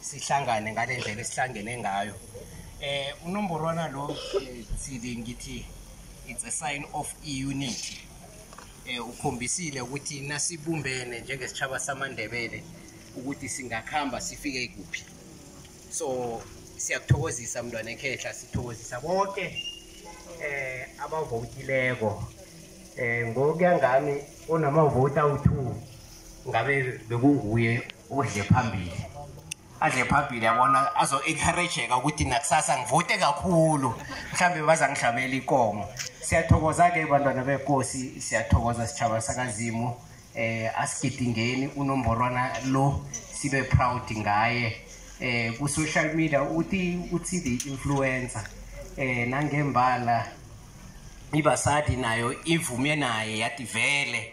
sihlangane ngale ndlela esihlangene ngayo eh unomborwana lo eh, sidi ngithi it's a sign of unity eh ukhombisile ukuthi nasibumbene njengesitshaba samandebele ukuthi singakhamba sifike kuphi so siyakuthokozisa mntwana ekhehla sithokozisa bonke eh abavotileko eh ngokuya ngami onamavoti awu2 ngabe bekunguye udle phambili adle phambili yabona azo-encourageka ukuthi nakusasa ngivute kakhulu mhlawumbe bazangihlamela ikomo siyathokoza-ke bantwana benkosi siyathokoza sitshaba sakazimu um eh, asigidingeni unomborwana lo sibe proud ngaye um ku-social media uthi uthi the influencer um nangembala ibasadi nayo ivume naye yativele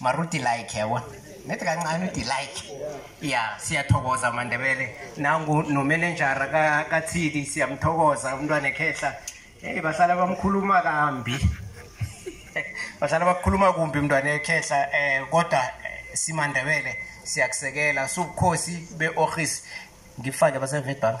mara udilike yabona ngithi kancane udilike ya siyathokoza amandebele nangu nomenenjara kathidi siyamthokoza umntwana ekhehla eyi bahlala bamkhuluma kambi bahlala bakhuluma kumbi umntwana ekhehla um eh, kodwa eh, simandebele siyakusekela subukhosi be-orhis ngifake basevedbank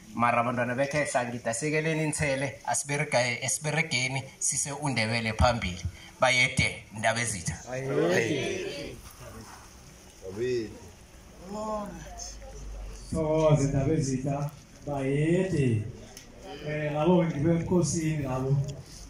mara bantwana bekhehla ngidasekeleni inthele asiberegeni sise undebele phambili bayede ndaba ezitha thokoze ndaba ezitha bayede um labo ngibe ebukhosini labo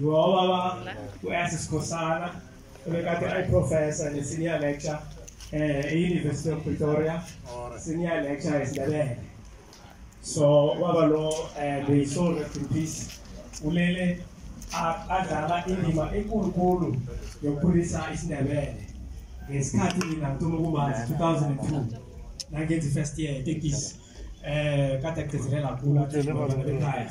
ngoba ba kuyase sikhosana bekade ayi professor ne senior lecture eh e University of Pretoria senior lecture esidabele so waba lo eh be so rest in peace ulele adlala indima enkulunkulu yokukhulisa isindebele ngesikhathi mina ngithola ukumazi 2002 nangenza i-first year etekisi um kade agcizelela kakhulu athi ekhaya